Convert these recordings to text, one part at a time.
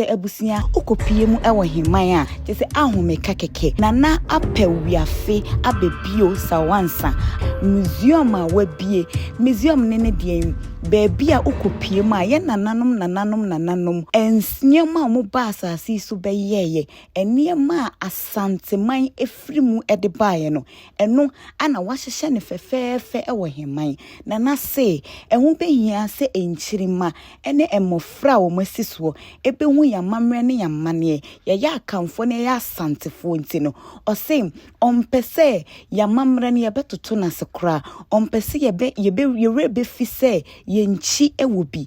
sɛ abusua okopie mu wɔ heman a kyɛ sɛ ahomeka kɛkɛ na na apɛ wiafe aba bio sawansa museum a wabie museum ne ne deɛn baabi a okopie mu a yɛ nananom nananom nananom nneɛma a wɔn ba asase yi so bɛyɛɛyɛ nneɛma a asanteman efiri mu de baeɛ no ɛno ana wahyehyɛ ne fɛfɛɛfɛ wɔ heman nana se ɛho bɛhia sɛ nkyirima ne mmofra a wɔasi soɔ bɛhu yɛn amammerɛ ne yɛn amanneɛ, yɛyɛ Akanfoɔ na yɛyɛ Asantefoɔ nti no, ɔse ɔmpɛ sɛ yɛn amammerɛ no yɛbɛtoto no ase koraa, ɔmpɛ sɛ yɛbɛ, yɛbɛ, yɛn werɛ bɛfi sɛ yɛnkyi wɔ bi.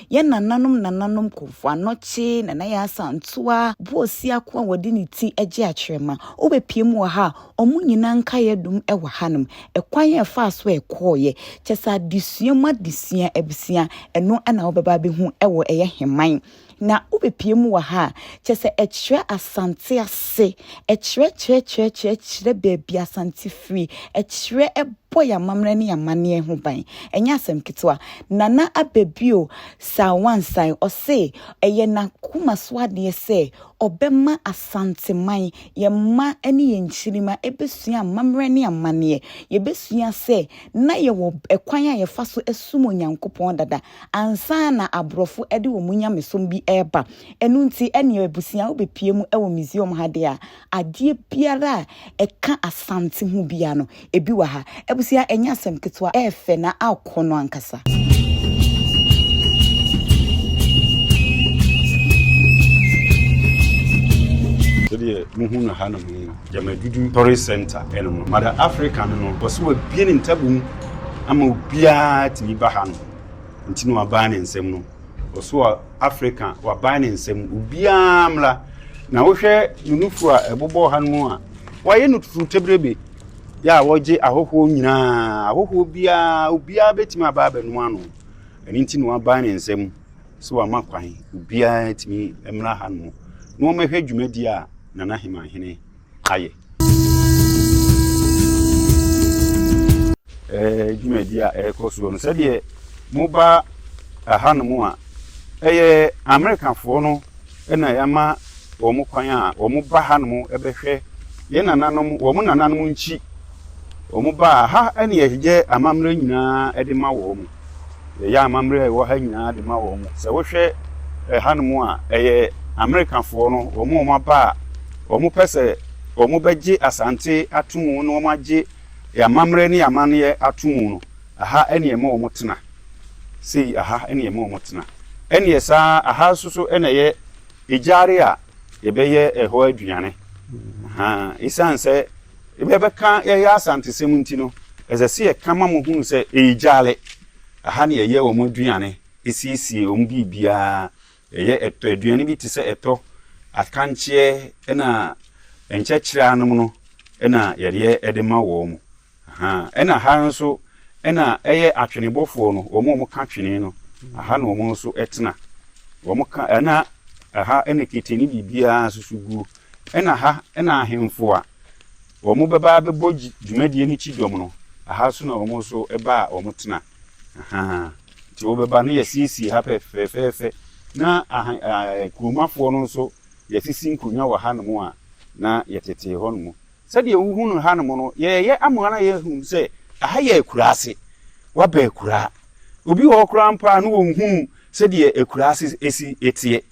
Yɛn nananom nananom Kofoɔ Anokye, Nana Yaa Asantewaa, Boɔ Siako a wɔde ne ti gye akyerɛma, wobɛpue mu wɔ ha a, wɔn nyinaa nkaeɛ dum wɔ hanom. Ɛkwan a ɛfaa so a ɛkɔeɛ, kyerɛ sɛ adesua mu adesua, abusua, ɛno na wobɛba abɛhu wɔ ɛyɛ Heman. Na wobɛpue mu wɔ ha a, kyerɛ sɛ ɛkyerɛ Asante ase, ɛkyerɛ kyerɛ kyerɛ kyerɛ kyerɛ baabi Asante firi akyire bɔ yɛn amammerɛ ne yɛn amanneɛ ho ban. Ɛnyɛ asɛm ketewa. Nana Ababio Sawansae, ɔse ɛyɛ n'akoma so adeɛ sɛ ɔbɛma Asanteman, yɛn mma ne yɛn nkyirimma bɛsua amammerɛ ne amanneɛ. Yɛbɛsua sɛ na yɛwɔ ɛkwan a yɛfa so som Onyankopɔn dada ansa na aborɔfo de wɔn nyamesom bi reba. Ɛno nti, ɛnneɛ abusua wobɛpue mu wɔ museum ha deɛ a, Adeɛ biara a ɛka Asante ho biara no, ebi wɔ ha. Abusua, ɛnyɛ asɛm ketewa, ɛyɛ fɛ na akɔnnɔ ankasa. sɛdeɛ mohu no ha nom no gyamadudu tɔre center ɛnom no mada africa no no wɔ so wabie ne ntabom ama obiara tumi ba ha no nti na wabaa ne nsɛm no wɔ so a Africa waban ne nsam obiara mmra na wohwɛ ne nufu a ɛbobɔ ha no mu a wɔayɛ no tutu tebrebe yɛ a wɔgye ahɔhoɔ nyinaa ahɔhoɔ biara obiara bɛtumi aba abɛnom ano ɛno nti na waban ne nsam sɛ wama kwan obiara tumi mmra ha no na wɔmɛhwɛ dwumadi a nana hemanhene ayɛ Eh, dwumadi a ɛrekɔ soɔ no sɛdeɛ moba ahanom a ɛyɛ amerikafoɔ no na yɛama wɔn kwan a wɔn ba hanom bɛhwɛ yɛn nananom wɔn nananom nkyi wɔn ba ha ɛna yɛyɛ amammerɛ nyinaa de ma wɔn. yɛyɛ amammerɛ a ɛwɔ ha nyinaa de ma wɔn. Sɛ wohwɛ ɛhanom a, ɛyɛ Amerikafoɔ no, wɔn a wɔaba a wɔpɛ sɛ wɔbɛgye Asante atom na wɔagye yɛn amammerɛ ne yɛn amanneɛ atom no, ɛha na yɛma wɔtena. Sei, ɛha na yɛma wɔtena. Ɛnneɛ saa ara, ɛha nso so na ɛyɛ gyaade a yɛbɛyɛ ɛhɔ aduane. Ahaa, ɛsiane sɛ. Ebi a ɛbɛka yɛyɛ Asantesɛm nti no, ɛsɛ sɛ yɛka ma wɔhunu sɛ ɛyɛ gyaale. Ɛha na yɛyɛ wɔn aduane, siesie wɔn biribiara. Yɛyɛ ɛtɔ, aduane bi te sɛ ɛtɔ, akankyeɛ ɛna nkyɛkyerɛ anom no na yɛde yɛ de ma wɔn. Aha, ɛna ha nso ɛna ɛyɛ atwenebɔfoɔ no, wɔn a wɔka twene no, aha na wɔn nso ɛtena. Wɔn ka, ɛna ɛha ɛna kete ne biribiara susuguo. Ɛna ha na ahemfo a wɔbɛba abɛbɔ dwumadie no kyidɔm no, aha nso na wɔn nso ba a wɔtena. Ahaa. Nti wɔbɛba no yɛasiesie ha fɛfɛɛfɛ na kuromafoɔ no nso yɛasisi nkonnwa wɔ hanom a na yɛtetee hɔnom. Sɛdeɛ wohu no hanom no, yɛreyɛ ama wɔn a yɛahu sɛ aha yɛ akuraa ase. Woaba akuraa. Obi wɔ hɔ koraa mpo a na ɔnhuu sɛdeɛ akuraa ase si teɛ.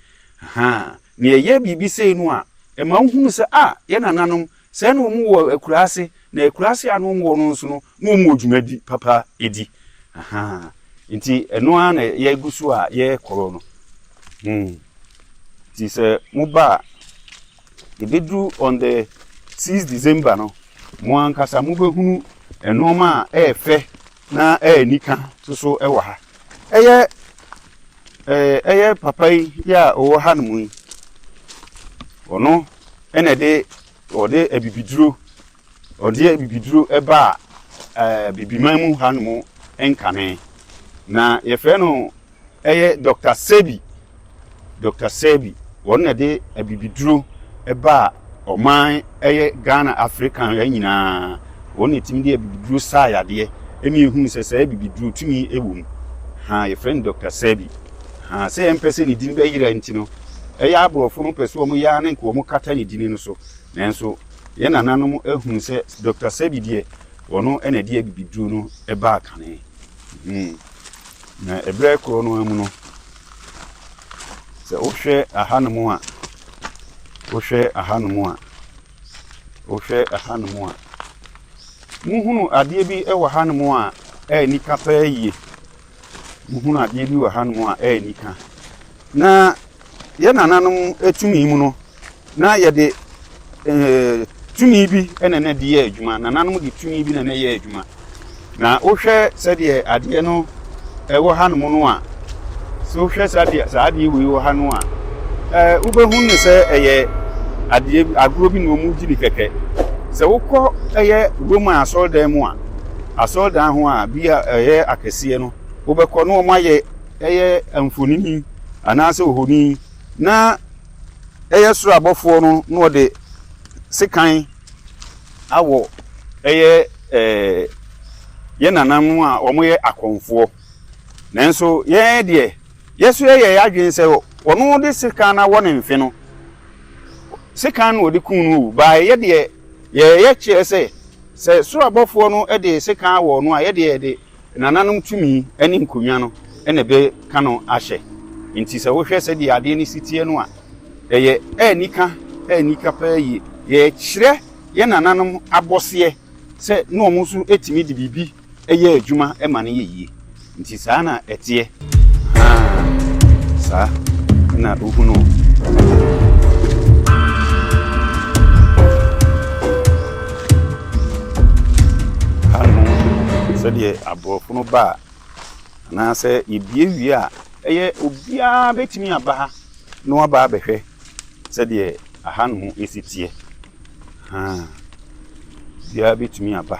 Ahaa. Na yɛyɛ biribi sei no a, ɛma wohunu sɛ, ah, yɛn nananom, sɛɛ na wɔwɔ akuraase, na akuraase a na wɔwɔ no nso no, na wɔwɔ dwuma bi papa di. Ahaa. Enti ɛno ara na yɛgu so a yɛrekɔɔ no. Hmm. Nti sɛ moba a, ɛbɛduru on the six December no, mo ankasa mobɛhunu nnoɔma a ɛyɛ fɛ Na ɛyɛ anika to so wɔ ha. Ɛyɛ ɛɛ ɛyɛ papa yi yi a ɔwɔ ha nom yi. Ɔno ɛna ɛde ɔde abibiduro ɔde abibiduro ɛba ɛɛ bibiman mu ha nom nkame. Na yɛfrɛ no. Ɛyɛ Dɔkta Sebi, Doctor Sebi, wɔn na de abibiduro baa ɔman ɛyɛ Ghana Africa ha nyinaa, wɔn na ɛtumi de abibiduro saa yadeɛ ɛna ɛhunu sɛ saa abibiduro tumi wɔ mu ha, yɛfrɛ no Dɔkta Sebi ha, sɛ yɛmpɛ sɛ ne din bɛyera nti no, ɛyɛ aborɔfo no pɛ sɛ wɔn yɛ ara ne nka wɔn kata ne dini no so, nanso yɛn nananom ahunu sɛ Dɔkta Sebi deɛ wɔn na ɛde abibiduro no baa kane. Na ɛberɛ korɔ no ara mu no, sɛ wohwɛ ahanom a, wohwɛ ahanom a, wohwɛ ahanom a, mohunu adeɛ bi wɔ hanom a ɛyɛ nika paa yie, mohunu adeɛ bi wɔ hanom a ɛyɛ nika. Na Yɛn nananom tumi mu no, na yɛde tumi bi na na ɛde yɛ adwuma. Nananom de tumi bi na na ɛyɛ adwuma. Na wohwɛ sɛdeɛ adeɛ no ɛwɔ hanom no a, sɛ wohwɛ sɛdeɛ saa adeɛ wei wɔ ha no a, ɛɛ wobɛhu no sɛ ɛyɛ adeɛ agorɔ bi na wɔn gye ne kɛkɛ. Sɛ wokɔ ɛyɛ Roma asɔredan mu a, asɔredan ho a bi a ɛyɛ akɛseɛ no, wobɛkɔ na wɔn ayɛ ɛyɛ mfonini. anaasɛ ohoni, na ɛyɛ soro abɔfoɔ no na wɔde sekan awɔ ɛyɛ yɛn nananom a wɔyɛ akɔmfoɔ. Nanso yɛn deɛ, yɛn nso yɛyɛ yɛn adwene sɛ wɔde sekan no awɔ ne mfe no, sekan na wɔde kum no o, bae, yɛn deɛ, yɛyɛ kyerɛ sɛ, sɛ soro abɔfoɔ no de sekan awɔ no a, yɛn deɛ, yɛde. Nananom tumi ne nkonnwa no na ɛbɛka no ahyɛ. Enti sɛ wohwɛ sɛdeɛ adeɛ no si teɛ no a, ɛyɛ anika anika paa yie. Yɛkyerɛ yɛn nananom abɔseɛ sɛ na wɔn nso tumi de biribi yɛ adwuma ma no yɛ yie. Enti saa na ɛteɛ. Haa, saa na wohunu o. Ha no, sɛdeɛ aborɔfo no ba a, anaasɛ yɛbie wie a, ɛyɛ obiara bɛtumi aba ha na waba abɛhwɛ sɛdeɛ aha no si teɛ. Biara bɛtumi aba.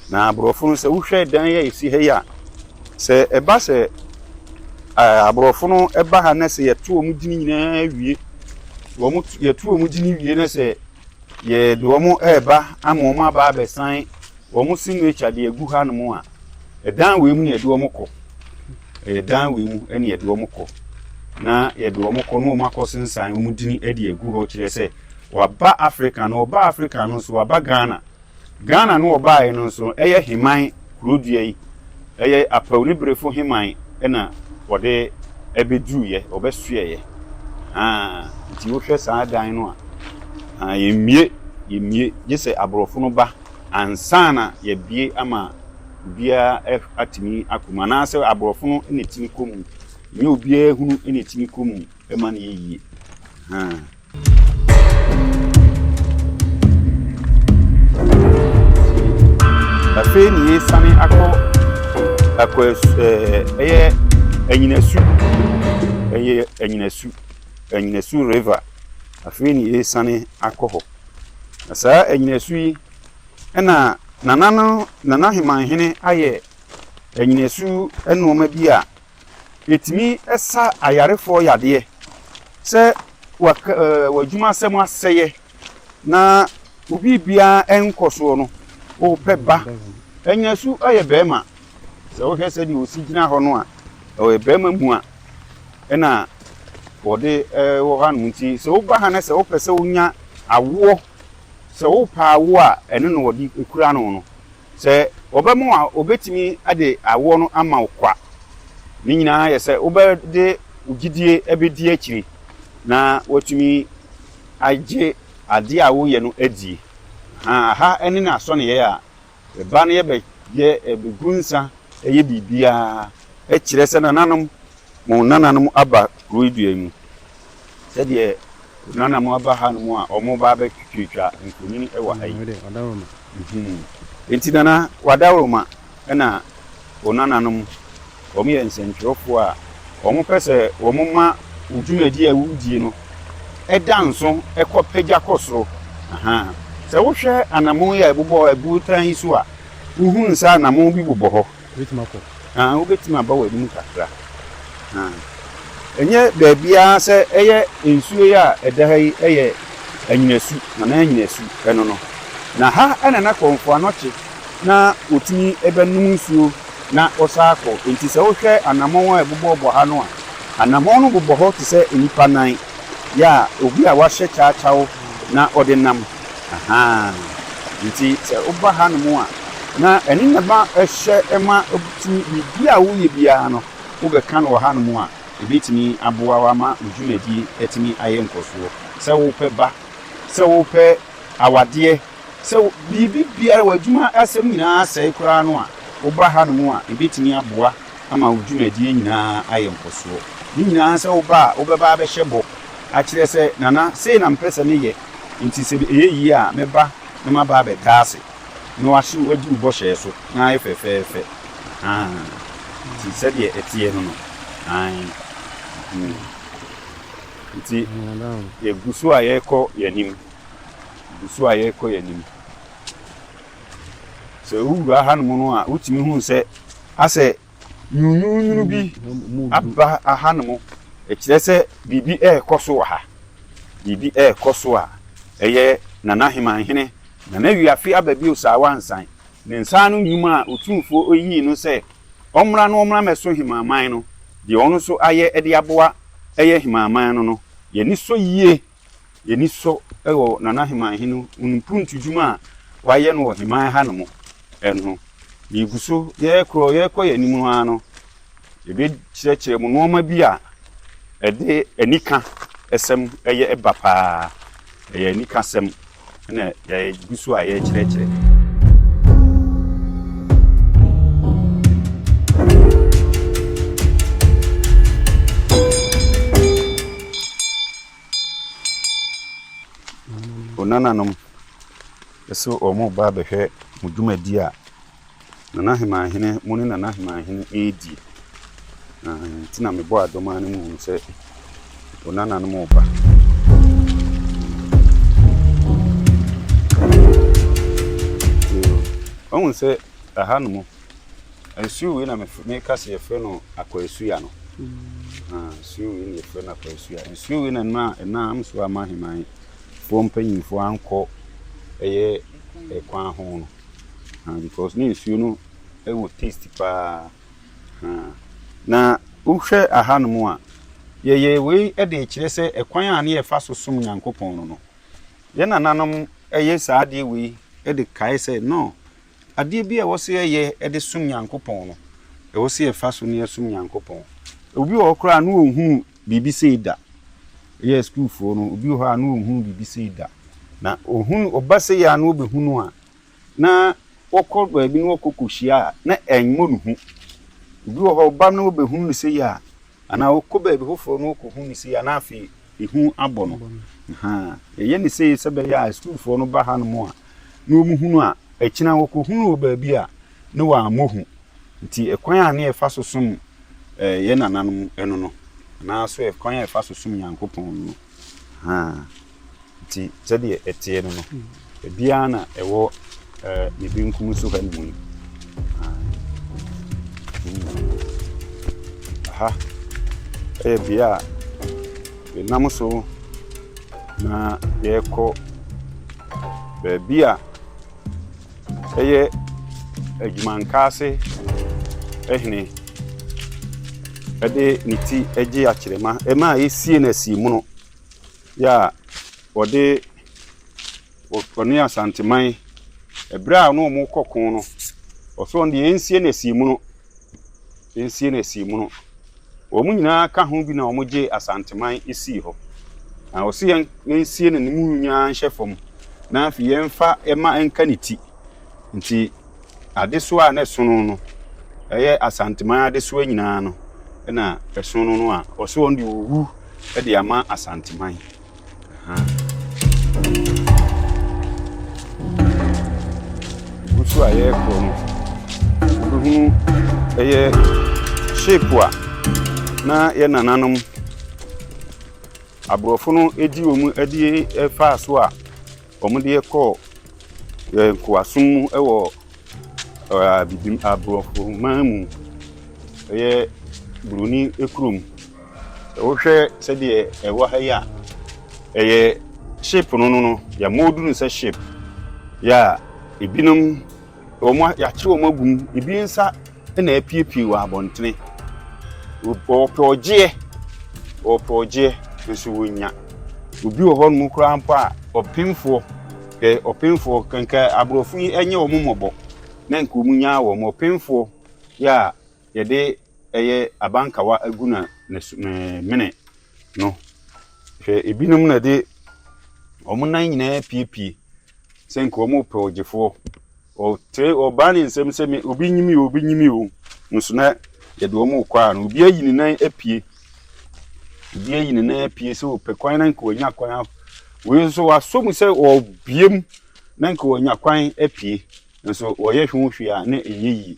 Na aborɔfo no sɛ wohwɛ dan yi a ɛsi ha yi a, sɛ ɛba sɛ aborɔfo no ba ha na sɛ yɛto wɔn gyini nyinaa wie, wɔn yɛto wɔn gyini wie na sɛ yɛde wɔn reba ama wɔn aba abɛsan wɔn signature de agu hanom a, ɛdan wei mu na yɛde wɔn kɔ. Ɛyɛ dan wei mu na yɛde wɔn kɔ. Na yɛde wɔn kɔ na wɔn akɔ sensan wɔn gyini de agu hɔ kyerɛ sɛ Waba Africa no, ɔbaa Africa no nso waba Ghana. Ghana no ɔbaeɛ no nso ɛyɛ Heman kuro dua yi, ɛyɛ Apawniberefo Heman na ɔde ɛbɛduruiɛ, ɔbɛsoɛeɛ. Haa, nti wohwɛ saa dan no a, haa, yɛmmue, yɛmmue, gye sɛ aborɔfo no ba ansa na yɛabue ama obiara atumi akɔ mu, anaasɛ aborɔfo no na ɛtumi kɔ mu, ɛnyɛ obiara hunu na ɛtumi kɔ mu. Ɛma no yɛ yie. Afei na yɛsane akɔ akɔ ɛyɛ anyinasu ɛyɛ anyinasu anyinasu river afei na yɛsane akɔ hɔ na saa anyinasu yi ɛna nana no nana hemanhene ayɛ anyinasu nneɛma bi a Yɛtumi sa ayarefoɔ yadeɛ sɛ w'adwumasɛm asɛeɛ na wo biribiara nkɔ soɔ no, wopɛ ba. Anya su yɛ barima. Sɛ wohwɛ sɛdeɛ ɔsi gyina hɔ no a, ɔyɛ barima mua na ɔde wɔ hanom nti sɛ woba ha na sɛ wopɛ sɛ wonya awoɔ, sɛ wopɛ awoɔ a, ɛno na wɔde kura no no. Sɛ wɔba mu a, wɔbɛtumi de awoɔ no ama wo kwa. Ne nyinaa yɛ sɛ wobɛde wo gyidie abɛdi akyire na woatumi agye adeɛ a woreyɛ no adie. Aha ne n'asɔneyɛ a ɛba no yɛbɛgu nsa yɛ biribiara kyerɛ sɛ nananom, mo nananom aba kuro yi dua yi mu. Sɛdeɛ Nana mo aba ha nom a ɔmo ba abɛ twitwa mfonini ɛwɔ ha yi. Nti Nana w'adaworoma ɛna wo Nana nom ɔmo yɛ nsɛntwerɛfoɔ a ɔmo pɛ sɛ ɔmo ma wo dwumadie a wodie no ɛda nso ɛkɔ pagya kɔ soro ahaa sɛ wohwɛ anamon yi a ɛbobɔ abuotan yi so a wohunu sɛ anamon bi bobɔ hɔ. Wobɛtumi akɔ. Aah wobɛtumi aba w'anim kakra. Aah ɛnyɛ baabiara sɛ ɛyɛ nsuo yi a ɛda ha yi ɛyɛ Anyinasu, Nana Anyinasu ɛno no. Na ha ɛna na Kɔmfoɔ Anɔkye na ɔtumi bɛnom nsuo na ɔsan akɔ. Nti sɛ wohwɛ anamɔn a ɛbobɔbɔ ha no a, anamɔn no bobɔ hɔ te sɛ nnipa nan, ya, obi a wahyɛ kyawkyaw na ɔde nam. Ahaa nti sɛ woba ha nom a na ɛno na ɛma ɛhyɛ ɛma wotumi biribi a woyɛ biara no wobɛka no wɔ ha nom a ɛbɛtumi aboa wo ama wo dwumadie atumi ayɛ nkɔsoɔ sɛ wopɛ ba sɛ wopɛ awadeɛ sɛ biribi biara w'adwuma asɛm nyinaa asɛe koraa no a woba ha nom a ɛbɛtumi aboa ama wo dwumadie nyinaa ayɛ nkɔsoɔ ne nyinaa sɛ woba a wobɛba abɛhyɛ bɔ akyerɛ sɛ nana sei na mpɛ sɛ meyɛ Enti sɛ ɛyɛ yie a, me ba, na maba abɛda ase na wahye wo adi wo bɔhyɛ so, na ayɛ fɛfɛɛfɛ. Aane. Nti sɛdeɛ ɛteɛ no no. Aane. Hmm. Nti, yɛgu so a yɛrekɔ yɛn anim. Yɛgu so a yɛrekɔ yɛn anim. Sɛ wowura hanom no a, wotumi hunu sɛ asɛ Nwununwunu bi aba ahanom. Ɛkyerɛ sɛ biribi rekɔ so wɔ ha. Biribi rekɔ so a ɛyɛ Nana Heman hene, Nana Wiafe Aba Bio Saawa Nsan. Ne nsa ano nnwuma a Otumfoɔ yii no sɛ ɔmmra na ɔmmra mmɛso Heman man no, deɛ ɔno nso ayɛ de aboa yɛn Heman man no no, yɛn ani sɔ yie. Yɛn ani sɔ wɔ Nana Heman Hene Onumpuruntu dwuma a wayɛ no wɔ Heman ha nom no ho. Yɛgu so, yɛkorɔ, yɛkɔ yɛn anim no ara no, yɛbɛkyerɛkyerɛ mo nnoɔma bi a ɛde anika sɛm yɛ ba paa. Ɛyɛ anika sɛm. na yɛgu so a yɛrekyerɛkyerɛ. nananom so wɔn ba bɛhwɛ mo dwumadi a Nana Heman hene mo ne Nana Heman hene ɛɛdie na nti na mebɔ adɔmaa no muhunu sɛ o Nana no mo ba. Ɔhun sɛ aha no mo nsuo wei na meka sɛ yɛfrɛ no akwasuya no nsuo wei na yɛfrɛ no akwasuya nsuo wei na no a ɛna am so ama heman foɔ mpanyinfoɔ ankɔ ɛyɛ ɛkwan ho no Ahaa because ne nsuo no wɔ taste paa. Ahaa. Na wohwɛ ahanom a, yɛyɛ wei de rekyerɛ sɛ ɛkwan a ne yɛfa so som Nyankopɔn no no, yɛn nananom yɛ saa adeɛ wei de kae sɛ no, adeɛ bi a ɛwɔ sɛ yɛyɛ de som Nyankopɔn no, ɛwɔ sɛ yɛfa so na yɛsom Nyankopɔn. Obi wɔ hɔ koraa a na ɔnhunu biribi sei da. Yɛ sukuufoɔ no, obi wɔ hɔ a na ɔnhunu biribi sei da. Na ɔhunu, ɔba sei a na ɔbɛhunu a, na wɔkɔ baabi na wɔkɔ kɔhyia a, na ɛmmɔ ne hu. Obi wɔ hɔ, ɔba na ɔbɛhunu no sei a, anaa ɔkɔ baabi foforɔ na ɔkɔhunu no sei a, na afei ehu abɔ no. Ahaa, yɛyɛ no sei sɛ ɛbɛyɛ a sukuufoɔ no ba hanom a, na wɔhunu a, akyina wɔkɔhunu wɔ baabi a, na wɔammɔ hu. Nti ɛkwan a ne yɛfa so som yɛn nananom no no, anaa so ɛkwan a yɛfa so som Nyankopɔn no no, nti sɛdeɛ ɛteɛ no no, ebiara na ɛwɔ ne benkum so ha nom yi. Aha ɛyɛ bea a yɛnam so na yɛrekɔ baabi a Ɛyɛ adwumankaase hene de ne ti gye akyerɛma ma esie no asiemono yɛ a wɔde ɔne Asanteman bere a ɔne wɔn rekɔ ko no ɔsɛ wɔn deɛ yɛnsie no asiemono yɛnsie no asiemono. Wɔn nyinaa ka ho bi na wɔgyee Asanteman sii hɔ. Na ɔse yɛn yɛnsie no ne mu nyinaa nhyɛ fam na afei yɛmfa ɛma ɛnka ne ti. Nti adesoa a na ɛsono no, ɛyɛ Asanteman adesoa nyinaa no na ɛsono no a ɔse ɔno deɛ ɔwu de ama Asanteman. Nso a yɛrekɔ no, wobɛhunu ɛyɛ shape a na yɛ nananom aborɔfo no di wɔn adie faa so a Wɔde yɛ kɔɔ yɛ nkoasom mu wɔ abibim aborɔfo man mu. Ɛyɛ buroni kurom. Wohwɛ sɛdeɛ ɛwɔ ha yi a, ɛyɛ ship no no no yɛmoodu no sɛ ship. Yeah, ebinom wɔn yɛakye wɔn agu mu, ebi nsa. na apuepue wɔ abɔntene. Wɔpɛ ɔgyeɛ, wɔpɛ ɔgyeɛ, nso wɔnnya. Obi wɔ hɔ nom koraa mpo a, ɔpemfoɔ, hwɛ ɔpemfoɔ, nka aborɔfo yi nyɛ wɔn mmɔbɔ, na nka wɔn nyaa wɔn, ɔpemfoɔ yɛ a yɛde ɛyɛ abankawa agu na ne mene no, hwɛ ebinom na ɛde wɔn nan nyinaa apuepue, Sɛ nka wɔn repɛ ɔgyefoɔ. Wɔtere, wɔbaa ne nsam sɛ, Me, obi nyi me o, obi nyi me o. Nanso na yɛde wɔn rekɔ a, na obi ayi ne nan apue. Obi ayi ne nan apue sɛ ɔpɛ kwan na nka wanya kwan a. Wei nso wasɔ mu sɛ ɔrebue mu na nka wanya kwan apue. Nanso wɔyɛ ho hwee a, na ɛnyɛ yie.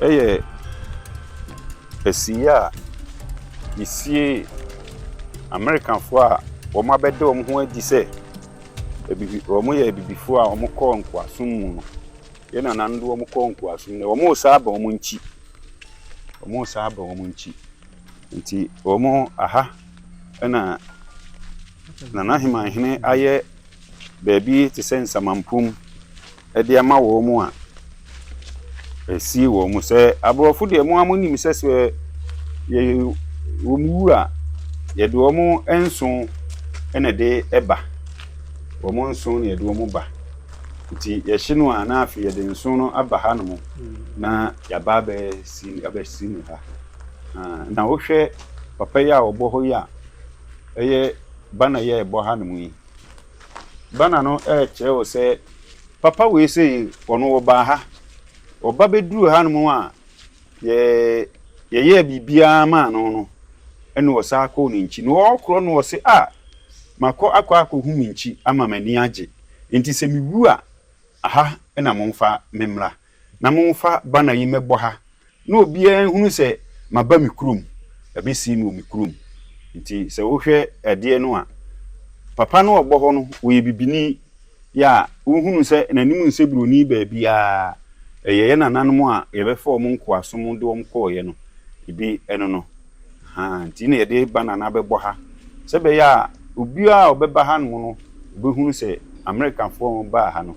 Ɛyɛ ɛsiiɛ a yɛsiee Amerikafoɔ a wɔn abɛda wɔn ho adi sɛ abibi wɔn yɛ abibifoɔ a wɔn kɔɔ nkoasom mu no. Yɛn nananom de wɔn kɔɔ nkoasom no, wɔn resan aba wɔn nkyi. Wɔn resan aba wɔn nkyi. Nti wɔn aha. na Nanahemanhene ayɛ baabi te sɛ nsamanpum de ama wɔn a ɛsi wɔn sɛ aborɔfo deɛ mo a monim sɛ sɛ yɛ wɔn wu a yɛde wɔn nso na ɛde ba wɔn nso na yɛde wɔn ba nti yɛhye no a na afei yɛde nso no aba hanom na yɛaba abɛsi abɛsi no ha Na wohwɛ papa yi a ɔbɔ hɔ yi a, ɛyɛ banner yi a ɛbɔ hanom yi. Banner no ɛrekyerɛ wo sɛ papa wei sei ɔno ɔbaa ha, ɔba bɛduruu hanom a yɛyɛɛ biribiara maa no no na ɔsan kɔɔ ne nkyi. Na ɔrekorɔ no ɔse ah makɔ akɔ akɔhu me nkyi ama m'ani agye nti sɛ mewu a aha na momfa me mmra. na momfa banner yi mmɛbɔ ha na obiara nhunu sɛ maba me kurom, yɛabɛsie me wɔ me kurom. Nti sɛ wohwɛ adeɛ no a, papa no a ɔbɔ hɔ no, ɔyɛ bibini, yɛ a wohunu sɛ n'anim nsɛ buroni baabiara, ɛyɛ yɛn nananom a yɛbɛfa wɔn nkoasom de wɔn kɔeɛ no bi, ɛno no. Ahaa, nti na yɛde ba no anaa bɛbɔ ha, sɛ ɛbɛyɛ a obiara a ɔbɛba hanom no, ɔbɛhunu sɛ Amerikafoɔ a wɔbaa ha no,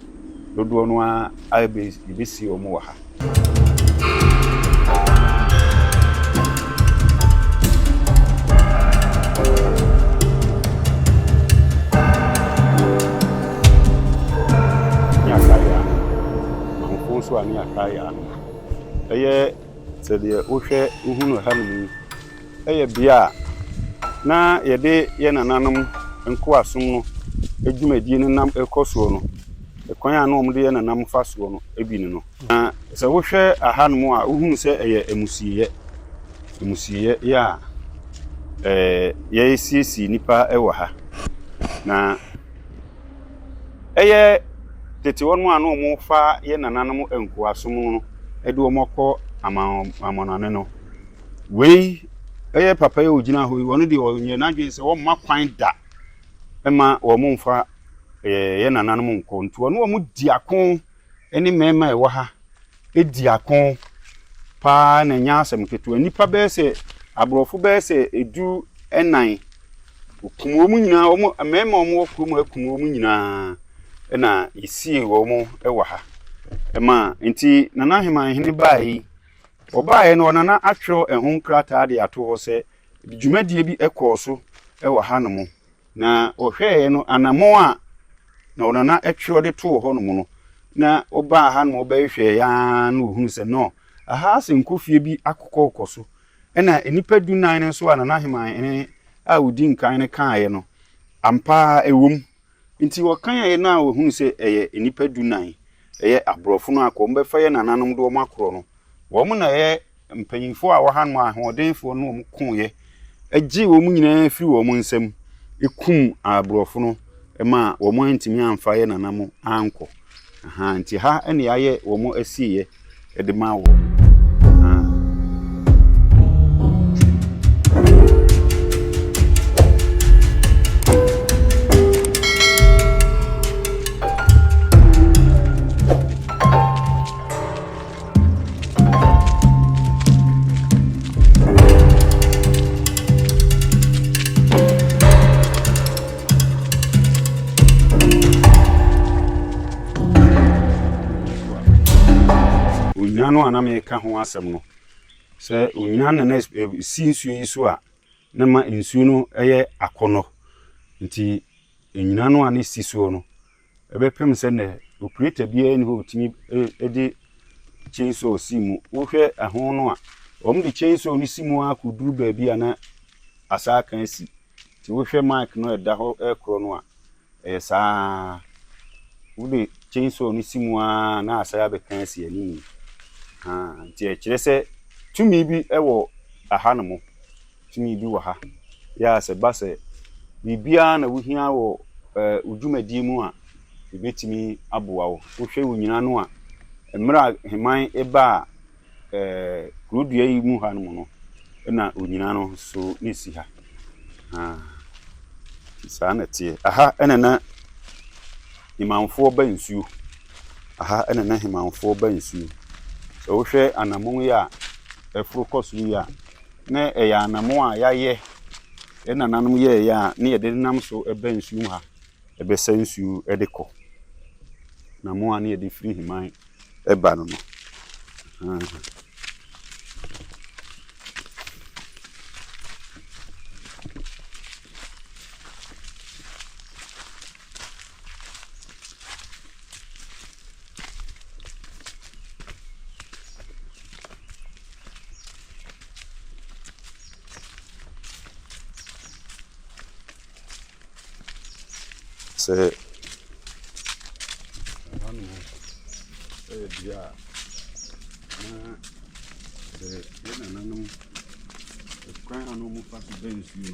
dodoɔ no ara yɛbɛsie wɔn wɔ ha. Ɛyɛ. Sɛdeɛ wohwɛ wohunu ha nom yi, ɛyɛ bea a na yɛde yɛn nananom nkoasom no dwumadie no nam rekɔ soɔ no. Kwan a na wɔde yɛn nananom fa soɔ no bi ne no. Na sɛ wohwɛ aha nom a, wohunu sɛ ɛyɛ amusieɛ. Amusieɛ yɛ a yɛsiesie nnipa wɔ ha. Na. Ɛyɛ tete hɔ nom a na ɔmo fa yɛ nananom nkoasom no ɛde ɔmo kɔ amanɔne no. Wei ɛyɛ papa yi a ɔgyina hɔ yi, ɔno deɛ ɔnyɛ n'adwene sɛ ɔmma kwan da ɛma ɔmo mfa ɛyɛ nananom nkɔ. Nti ɔne ɔmo di ako ɛne mmɛɛma a ɛwɔ ha. di ako paa na ɛnyɛ asɛm ketewa. Nnipa bɛyɛ sɛ, aborɔfo bɛyɛ sɛ edu nnan, wɔkum wɔn nyinaa, wɔn mmarima a wɔwɔ kurom ha kum wɔn nyinaa na yɛsiee wɔn wɔ ha. Ɛma, nti Nana Aheman hene baeɛ yi, ɔbaeɛ no Nana atwerɛ ɛho nkrataa de ato hɔ sɛ dwumadie bi kɔɔ so wɔ hanom. Na wɔhwɛeɛ no, anammɔn a na wɔn nana twerɛ de too hɔnom no, na wɔbaa ha na wɔbɛhwehwɛeɛ ara na wɔhunuu sɛ, no, ɛha asɛ nkofie bi akokɔɔkɔ so. Ɛnna nnipa dunan no nso a Nana Aheman hene a ɔdi nkan no kaeɛ no, ampa ara ɛwom. Nti wɔkaeɛ no a wɔhunuu sɛ ɛyɛ nnipa dunan, ɛyɛ aborɔfo no akɔ, wɔbɛfa yɛn nananom de wɔn akorɔ no. Wɔn na ɛyɛ mpanyimfoɔ a wɔha no ahoɔdenfoɔ no wɔn koeɛ, gyee wɔn nyinaa firii wɔn nsam, kum aborɔfo no maa wɔn antumi amfa yɛn nanam ankɔ. Aha, nti ha na yɛayɛ wɔn asieeɛ de ma wɔn. onyan no a na meka ho asɛm no sɛ onyan na na si nsuo yi so a na ma nsuo no yɛ akɔnɔ nti nnyina no a na si soɔ no Ɛbɛpem sɛ nnɛ operator biara nni hɔ a otumi de chainsaw si mu. Wohwɛ ɛho no a, wɔde chainsaw no si mu ara koduru baabi a na asa aka asi. Nti wohwɛ mic no a ɛda hɔ rekorɔ no a, ɛyɛ saa ara. Wode chainsaw no si mu ara na asan abɛka asi anim. Ahaa, nti ɛkyerɛ sɛ tumi bi wɔ ɛhanom. tumi bi wɔ ha. Yɛ a sɛ ɛba sɛ biribiara na wuhia wɔ wo dwumadi mu a, yebetumi aboa wo. Wohwɛ wo nnyina no a, mmerɛ a Heman baa kurodua yi mu ha nom no, na onnyina no nso na ɛsi ha. Nti saa na ɛteɛ. Aha na na Hemanfoɔ ba nsuo. Aha na na Hemanfoɔ ba nsuo. Sɛ wohwɛ anammɔn yi a ɛforo kɔ soro yi a, Na ɛyɛ anammɔn a yɛayɛ, yɛn nananom yɛeɛ a na yɛde nam so ba nsuo mu ha, bɛsa nsuo de kɔ. Anammɔn a na yɛde firi Heman ba no no. sɛ ɛhɔ no ɛyɛ bea a na sɛ yɛ nananom ɛkwan a na wɔfa so bɛ nsuo no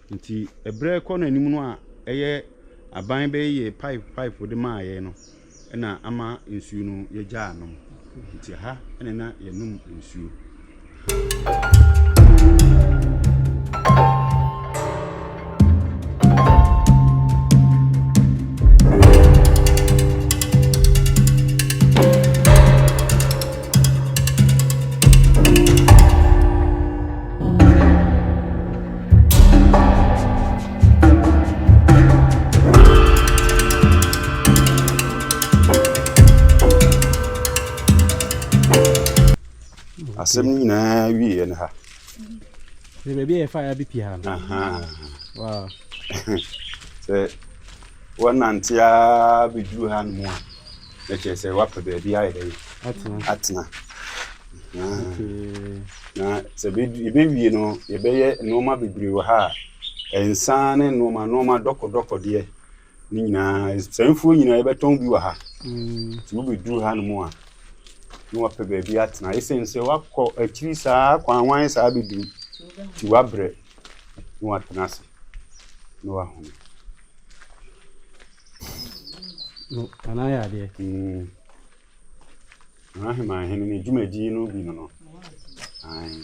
Ntsi ber a ɛkɔ n'enyim no a ɛyɛ aban bɛyɛ yɛ pipe pipe de maa yɛn no na ama nsuo no yɛgyaa nom. Nti ha na na yɛnom nsuo. asɛm no nyinaa wieɛ no ha sɛ baabi a yɛfa ya bi pii ha no sɛ wɔnante a bɛduru ha no mu a Na kyerɛ sɛ wapɛ baabi ayɛ dɛ atena na sɛ yɛbɛwie no yɛbɛyɛ nnoɔma bebree wɔ ha a nsa ne nnoɔma nnoɔma dɔkɔdɔkɔdeɛ ne nyinaa sɛ mfuo nyinaa yɛbɛtɔn bi wɔ ha nti wobɛduru ha no mu a na wapɛ baabi atena ɛsiane sɛ wakɔ akyiri saa kɔ anwan saa bɛduru nti wabrɛ na watena ase na wahome No, Nana ayɛ adeɛ. Mm. Nana Heman Hene ne dwumadi no bi no no. Ae.